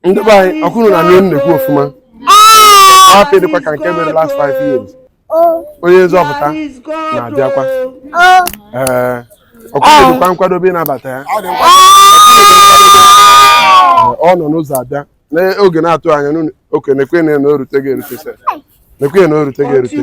ndị be anyị ọkwa unu na-anụ ihe m na-ekwu ọfụma afọ dịkwa ka nke mere last five years onye nzọpụta na-abịakwa ee ọkwa unu dịkwa nkwadobe ịnabata ya ọ nọ n'ụzọ abịa n'oge na-atụ anya n'oke na-ekwe na erute ga-erute se na-ekwe na erute ga-erute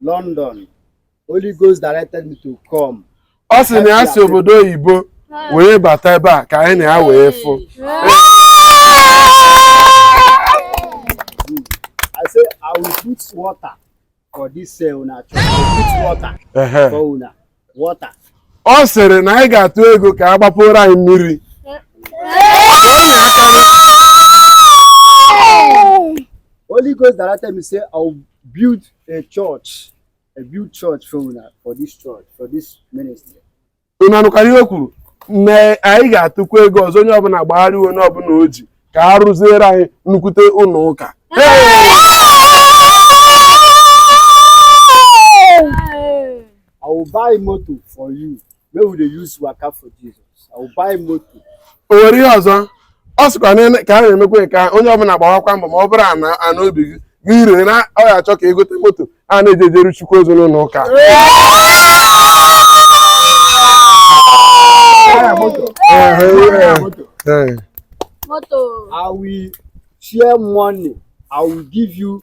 London. Holy Ghost directed me to come. ọ sị na ya si obodo oyibo wee bata ebe a ka anyị na ya wee fụ I say I will put water for this uh, una church. I will put water Ehe. for una. ọ sịrị na anyị ga-atụ ego ka a gbapụrụ anyị mmiri Holy Ghost directed me say I'll build a church I build church for una for this church for this ministry. unu anụkwara ihe o kwuru na anyị ga-atụkwa ego ọzọ onye ọbụla gbagharịa wee nye ihe ọbụla o ji ka a rụziere anyị nnukwute ụlọ ụka I will buy moto for you. wey we dey use waka for Jesus. I will buy moto. O nwere ihe ọzọ ọ sịkwa na ka a na-emekwa ka onye ọbụla gbawakwa mbọ ma ọ bụrụ ana obi gị ị ree na ọ ya-achọ ka e gote moto a na-eji ejeru chukwu ozi n'ụlọ ụka Ee. Moto. I will share money. I will give you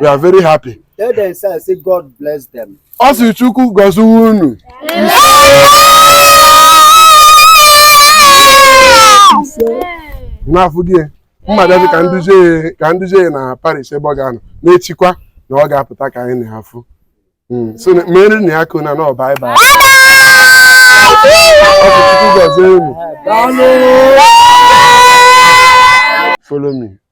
we are very happy Tell them, sir, say God bless them. ọ sị chukwu gọziwe unu n'afọ gị mma bịazi ka m duzie ya ka m duzie ya na parish ebe ọ ga-anọ n'echikwa na ọ ga-apụta ka anyị na ya fụ Mm, so na- mere na ya kona na ọba ịba gọzie unu follow me